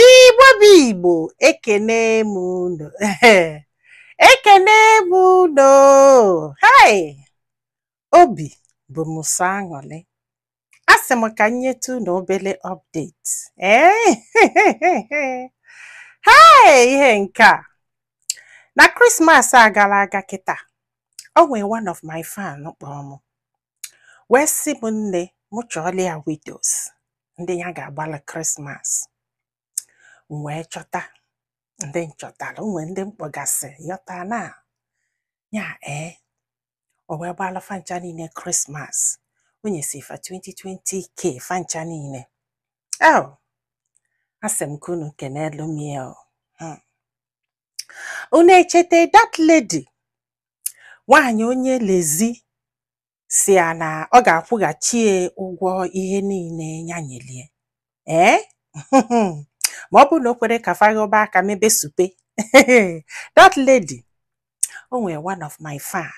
Igbo bụ Igbo ekene m unu ekene m unu hai obi bụ m sọ aṅụrị asị m ka m nyetụ unu obere update ee hai ihe nke a na Christmas a gara aga kịta o nwere one of my fan kpọrọ m wee sị m nne m chọọla ya widows ndị ya ga-agbala Christmas m wee chọta ndị m chọtara o nwe ndị m kpọgasị yọta na ya ee o wee gbalụ fa ncha niile Christmas o nyesịa fa 20 20k fa ncha niile o asị m ka unu kenelu m ya o. Hmm. unu echeta that lady nwaanyị onye lezi sị ya na ọ ga-akwụghachi ya ụgwọ ihe niile ya nyelie ee ma ọ bụrụ na o kwere ka fa ghọba aka mebe supe that lady o nwere one of my fan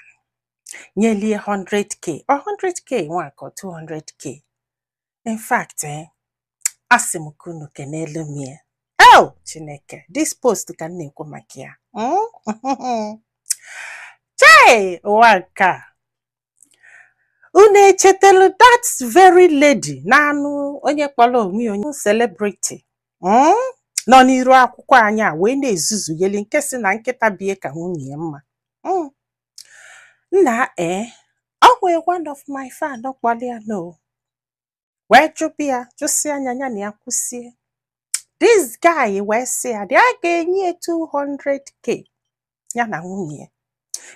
nyelie 100k ọ 100k nwa ka ọ 200k in fact eh, asị m ka unu kenelu m ya o chineke this post ka m na-ekwu maka ya Mm? chei ụwa nke a unu echetelu that very lady na-anụ onye kpọrọ onwe ya onye celebrity mm? nọ n'iru akwụkwọ anyị a wee na-ezuzugheli nke sị na nkịta be ya ka nwunye ya mma Mm. nna e o nwere one of my fan kpọrọ ya no wee jụba ya jụsịa ya ya na ya kwusie this guy wee sị ya dị a ga-enye ya 200k ya na nwunye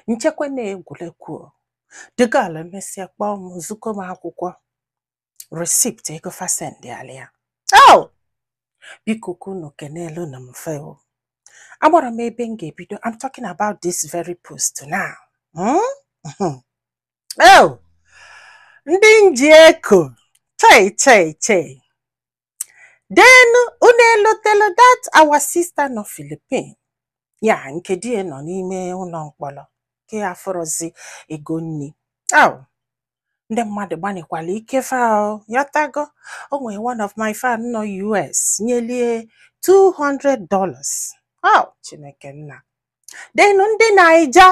m chekwa na egwuregwu the girl emesịa kpọọ m zigo m akwụkwọ receipt ego fa sendịala ya oh! biko ka unu kenelu nụ m fa o amarọ m ebe m ga-ebido I'm talking about this very post now hmm? Hmm. oh! ndị m ji eko chei chei chei then unu elotelu that our sister nọ Philippine ya nke di ya nọ n'ime ụlọ mkpọrọ nke afụrọzi ego nni ah ndị mmadụ gbanịkwala ike fa o, ị ghọtago o nwere one of my fan nọ US nyelie 200 dollars ah Chineke nna then ndị naija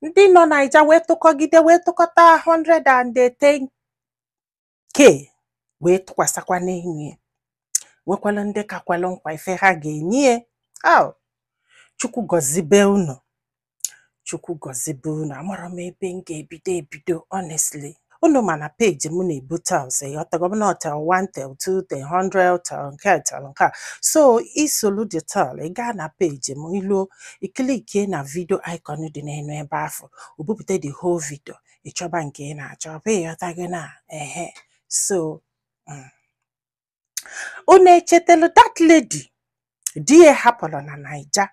ndị nọ naija wee tụkọgide wee tụkọta 110 ke wee tụkwasịkwa n'elu ya nwekwara ndị ka kwelu nkwa ife ha ga-enye ya au chukwu gọzibe unu chukwu gọzibe unu amarọ m ebe m ga-ebido ebido honestly unu ma na page m na-ebu tales ịghọtago m na tale 1 tale 2 tale 100 tale nke a, tale nke a so i solu the tale ị gaa na page m i luo i clickie na video icon dị n'elu ebe afụ o bupụta the whole video ị chọba nke ị na-achọ ọ bụ ịghọtago na ehe so mm. unu echetelu that lady di ya hapụrụ na naija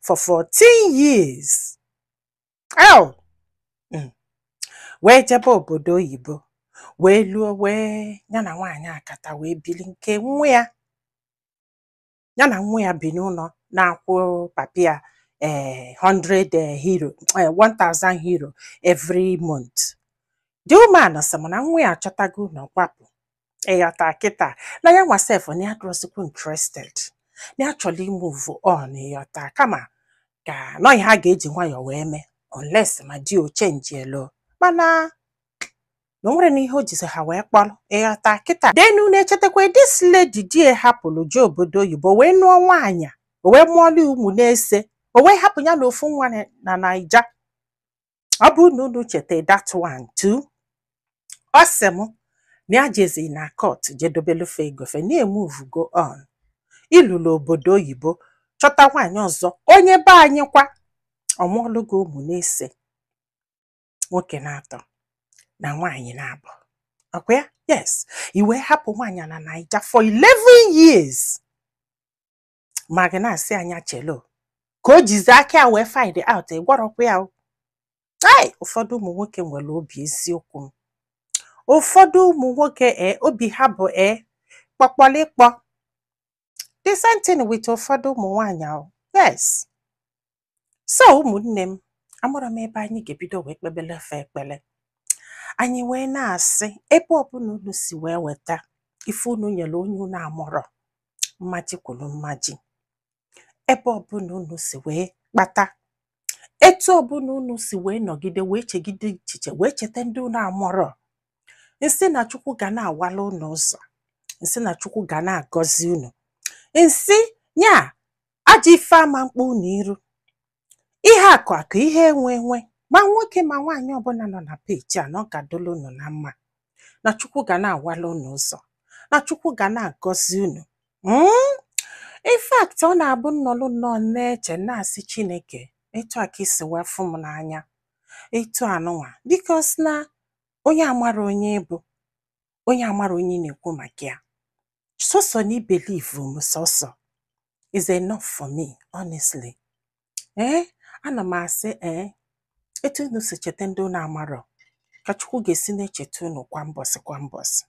for 14 years Ew! Mm. wee jebe obodo oyibo wee luo wee ya na nwaanyị akata wee bili nke nwa ya ya na nwa ya bi n'ụlọ na-akwụ papa ya eh, 100 eh, euro eh, 1000 euro every month the woman sị m na nwa ya achọtago ụnọ kwapụ ịghọta kịta na ya nwa sef na ya adịrọzikwa interested na ya chọrọ ịmove on ịghọta kama ka nọ ihe ha ga-eji nwayọọ wee mee unless ma di o chenjielu mana na o nwere na ihe o jizi ha wee kpọrọ ịghọta kịta then unu echetakwa this lady di ya hapụrụ jee obodo oyibo wee nụọ nwaanyị a, o wee mụọlụ ya ụmụ n'ise o wee hapụ ya na ofu nwa na- na naija ọ bụ na unu cheta that one too ọ sị m na ya jezi na court jee dobelu fa ego fa na ya emovego on i lulu obodo oyibo chọta nwaanyị ọzọ onye be anyị kwa ọ mụọlụ gị ụmụ n'ise nwoke n'atọ na nwaanyị n'abụọ ọkwa ya yes i wee hapụ nwaanyị na naija for 11 years ma gị na-asị ya nya chelu ka o jizi aka ya wee find out ị gwarọkwa ya ai ụfọdụ ụmụ nwoke nwere obi eziokwu m ụfọdụ ụmụ nwoke e obi ha bụ e kpọkpọlịkpọ the same thing with ụfọdụ ụmụ nwaanyị o yes so ụmụnne m amarọ m ebe anyị ga-ebido wee kpebelu fa ekpele anyị wee na-asị ebe ọbụla unu si wee weta ife unu nyere onye unu amarọ mmaji kwuru mmaji ebe ọbụla unu si wee kpata etu ọbụla unu si wee nọgide wee chegide echiche wee cheta ndị unu amarọ m sị na chukwu ga na-awala unu ụzọ m sị na chukwu ga na-agọzi unu m sị ya ajọ ife ama mkpa unu iru ihe akụ akụ ihe enwe enwe ma nwoke ma nwaanyị ọbụla nọ na peji a na ọ ga-adịla unu na mma na chukwu ga na-awala unu ụzọ na chukwu ga na-agọzi unu Mm? in fact ọ na-abụ m nọlụ nnọọ na-eche na-asị chineke etu a ka i si wee fụ m n'anya etu anụnwa because na onye amarọ onye ị bụ onye amarọ onye ị na-ekwu maka ya sọsọ na i believe m sọsọ is enough for me honestly ee ana m asị ee etu unu si cheta ndị unu amarọ ka chukwu ga-esi na-echeta unu kwa mbọsị kwa mbọsị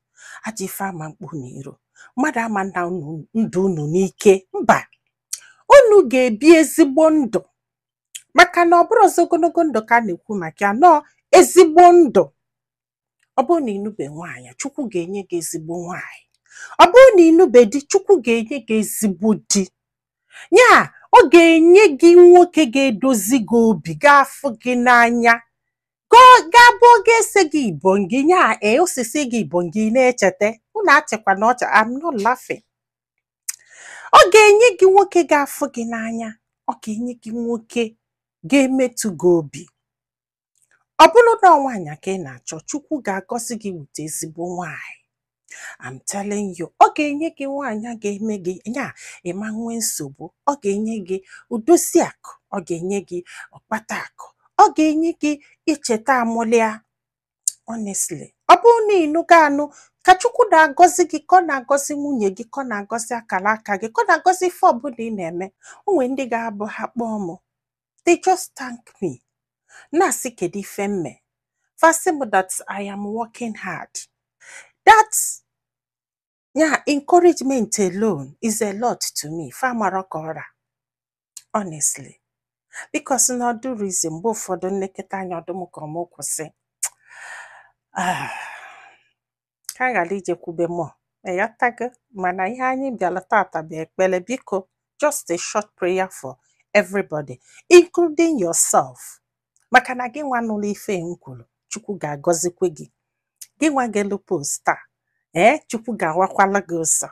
ajọ ife ama mkpa unu iru mmadụ ama nna unu ndụ unu n'ike mba unu ga-ebi ezigbo ndụ maka na ọ bụrọ sọ ogologo ndụ ka a na-ekwu maka ya na ọ ezigbo ndụ ọ bụrụ na ị nụbe nwaanyị chukwu ga-enye gị ezigbo nwaanyị ọ bụrụ na ị nụbe di chukwu ga-enye gị ezigbo di ya ọ ga-enye gị nwoke ga-edozi gị obi ga-afụ gị n'anya ga-abụ oge ese gị ibo gị ya ee osisi gị ibo gị na-echeta unu achịkwana ọchị I'm not laughing ọ ga-enye gị nwoke ga-afụ gị n'anya ọ ga-enye gị nwoke ga-emetụ gị obi ọ bụrụ na ọ nwaanyị ka ị na-achọ chukwu ga-agọzi gị wute ezigbo nwaanyị I'm telling you ọ ga-enye gị nwaanyị ga-eme gị ya ị ma nwee nsogbu ọ ga-enye gị odozi akụ ọ ga-enye gị ọkpata akụ ọ ga-enye gị icheta amụlịa honestly ọ bụrụ na ị nụgo anụ ka chukwu na-agọzi gị ka ọ na-agọzi nwunye gị ka ọ na-agọzi akara aka gị ka ọ na-agọzi ife ọbụla ị na-eme o nwere ndị ga-abụ ha kpọọ m they just thank me na-asị kedu ife m me fa asị m that I am working hard that ya encouragement alone is a lot to me fa mara ka ọ ra honestly because na ọ dịrọ easy mgbe ụfọdụ m neketa anya ọ dị m ka mụ kwụsị ah. ka anyị ghara ijekwube mọ ị ghọtago mana ihe anyị bịara tata bụ ekpere biko just a short prayer for everybody including yourself maka na gị nwa nụrụ ife m kwuru chukwu ga-agọzikwa gị gị nwa gelụ post a ee chukwu ga-awakwala gị ụzọ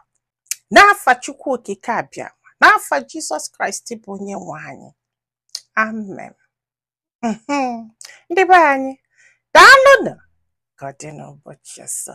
n'afa chukwu okike abịama n'afa jizọs kraịst bụ onye nwe anyị amen Mhm. ndị be anyị daalụnụ ka ọ dị n'ụbọchị ọzọ